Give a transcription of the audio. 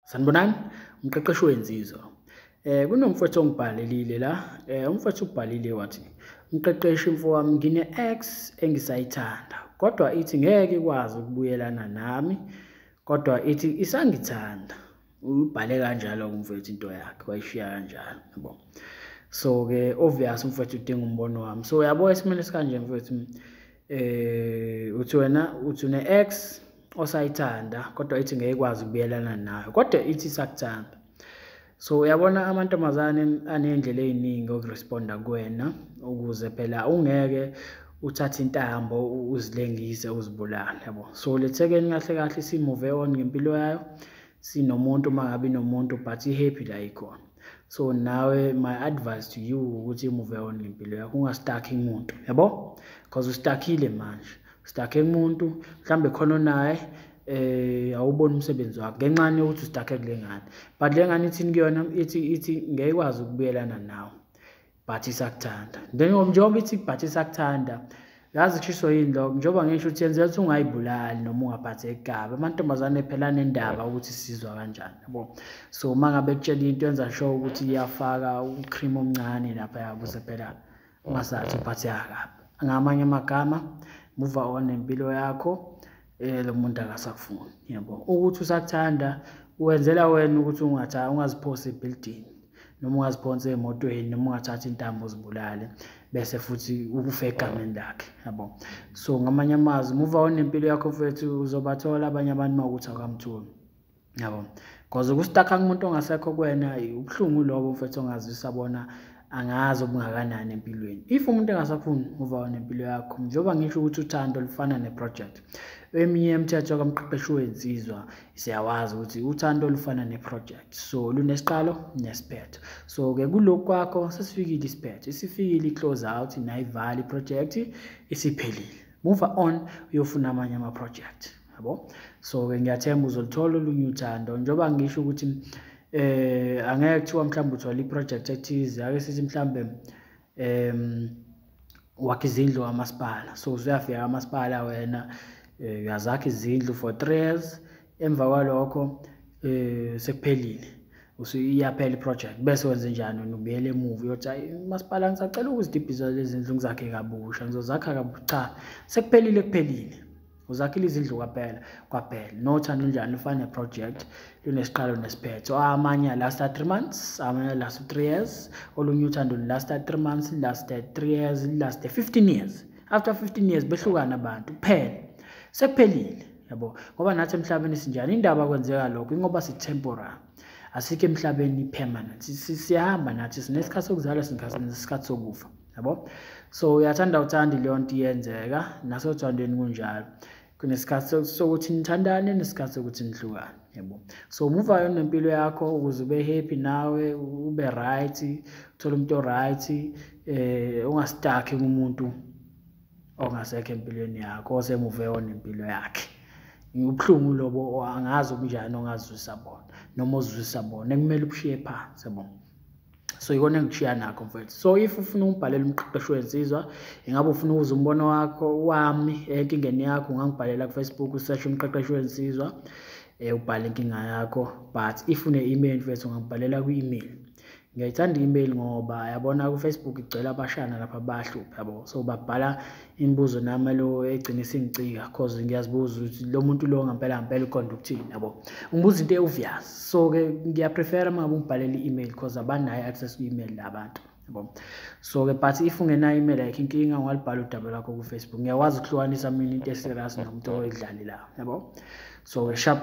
sanibonani umqeqeshi wenzizwa eh kunomfowethu ongibhalelile la eh umfowethu ubhalile wathi umqeqeshi mfowami ngine ex engisayithanda kodwa ithi ngeke ikwazi ukubuyelana nami kodwa ithi isangithanda ubhale kanjalo umfowethu into yakhe wayishiya kanjalo yabo so ke obvious umfowethu udinga umbono wami so yabo esimene sikanje mfowethu eh uthi wena uthi une ex osayithanda kodwa ithi ngeke ikwazi ukubuyelana nayo kodwa ithi isakuthanda so uyabona amantombazane aney'ndlela ey'ningi okuresponda kuwena ukuze phela ungeke uthathe intambo uzilengise uzibulale yabo so lethekeni kahle kahle simuve on ngempilo yayo sinomuntu uma ngabe inomuntu but i-happy la ikhona so nawe my advice to you ukuthi imuve on ngempilo yakho ungastakhi muntu yabo because ustakile manje sidakhe kumuntu mhlawumbe khona onaye eh awuboni umsebenzi wakhe ngenxa yokuthi usidakhe kule ngane but le ngane ithini kuyona ithi ithi ngeke ikwazi ukubuyelana nawe but isakuthanda njengoba ithi but isakuthanda yazi kushiso yini lokho njengoba ngisho ukuthi yenzela ukuthi ungayibulali noma ungaphatheki kabi amantombazane phela nendaba ukuthi sizwa kanjani yabo so uma ngabe kutshela into yenza sure ukuthi iyafaka ucream omncane lapha yabuze phela ungasathi uphatheka kabi ngamanye amagama move on nempilo yakho eh lo muntu akasakufuni yebo ukuthi usakuthanda wenzela wena ukuthi ungatha ungaziphose ebuilding noma ungaziphonsa emotweni noma ungathatha intambo uzibulale bese futhi ukufa egameni lakhe yabo so ngamanye amazwi move on nempilo yakho mfethu uzobathola abanye abantu mawukuthi akamtholi yabo because ukustakha kumuntu ongasekho kuwena ubuhlungu lobo mfethu ongazisa bona angazi obungakanani empilweni if umuntu engasafuni uva nempilo yakho njengoba ngisho ukuthi uthando lufana neproject eminye yemithetho kamqeqeshi wensizwa siyawazi ukuthi uthando lufana neproject so lunesiqalo nesiphetho so-ke kulokhu kwakho sesifikile isiphetho isifikile i-close out nayivala iprojekthi isiphelile move on uyofuna amanye amaprojekthi yabo so-ke ngiyathemba uzolithola olunye uthando njengoba ngisho ukuthi eh angeke kuthiwa mhlawumbe uthola iproject ethize ake sithi mhlawumbe em wakhe izindlu kamasipala so usuyafika kamasipala wena eh, uyazakha izindlu for three years emva kwalokho um sekuphelile usuyaphela iproject bese wenze njani wena ubuyele emuva uyothi hayi umasipala ngisacela ukuzidibhisa lezi ndlu ngizakhe kabusha ngizozakha kabusha cha sekuphelile kuphelile uzakhile izindlu kwaphela kwaphela nothando njani lufane project lunesiqalo nesiphetho amanye last 3 months amanye last 3 years olunye uthando last 3 months last 3 years last 15 years after 15 years behlukana abantu kuphela sekuphelile yabo ngoba nathi emhlabeni sinjani indaba kwenzeka lokho ingoba si temporary asikho emhlabeni permanent siyahamba nathi sinesikhathi sokuzalwa sinesikhathi sokufa yabo so uyathanda uthandi leyo nto iyenzeka nasothandweni kunjalo kunesikhathi sokuthi nithandane nesikhathi sokuthi nihlukane yebo so muva yona nempilo yakho ukuze ube happy nawe ube right uthole umuntu oright eh ungastakhi kumuntu ongasekho empilweni yakho osemuve yona impilo yakhe ubuhlungu lobo angazi ubunjani ongazwisa bona noma ozwisa bona ekumele ubushiye phansi yabo so ikona engichiya nakho mfethu so if ufuna ukubhalela umqeqeshi wensizwa ingabe ufuna ukuza umbono wakho wami enkingeni yakho ungangibhalela kufacebook usearch umqeqeshi wensizwa um ubhale inkinga yakho but if une-email mfethu ungangibhalela kwi-email ngiyayithanda i-email ngoba yabona kufacebook igcwele abashana lapha bahluphe yabo so babhala imibuzo nami lo egcina isingicika cause ngiyazibuza ukuthi lo muntu lo ngempela ngempela uqonda ukuthini yabo ngibuza into ewuvyas so ke ngiyaprefera uma ngabe ungibhalele i-email cause abanayo access ku-email labantu yabo so ke but if ungenayo email like inkinga ungalibhala udaba lwakho ku-facebook ngiyakwazi ukuhlukanisa mina into eserious nomuntu oyidlali la yabo so ke sharp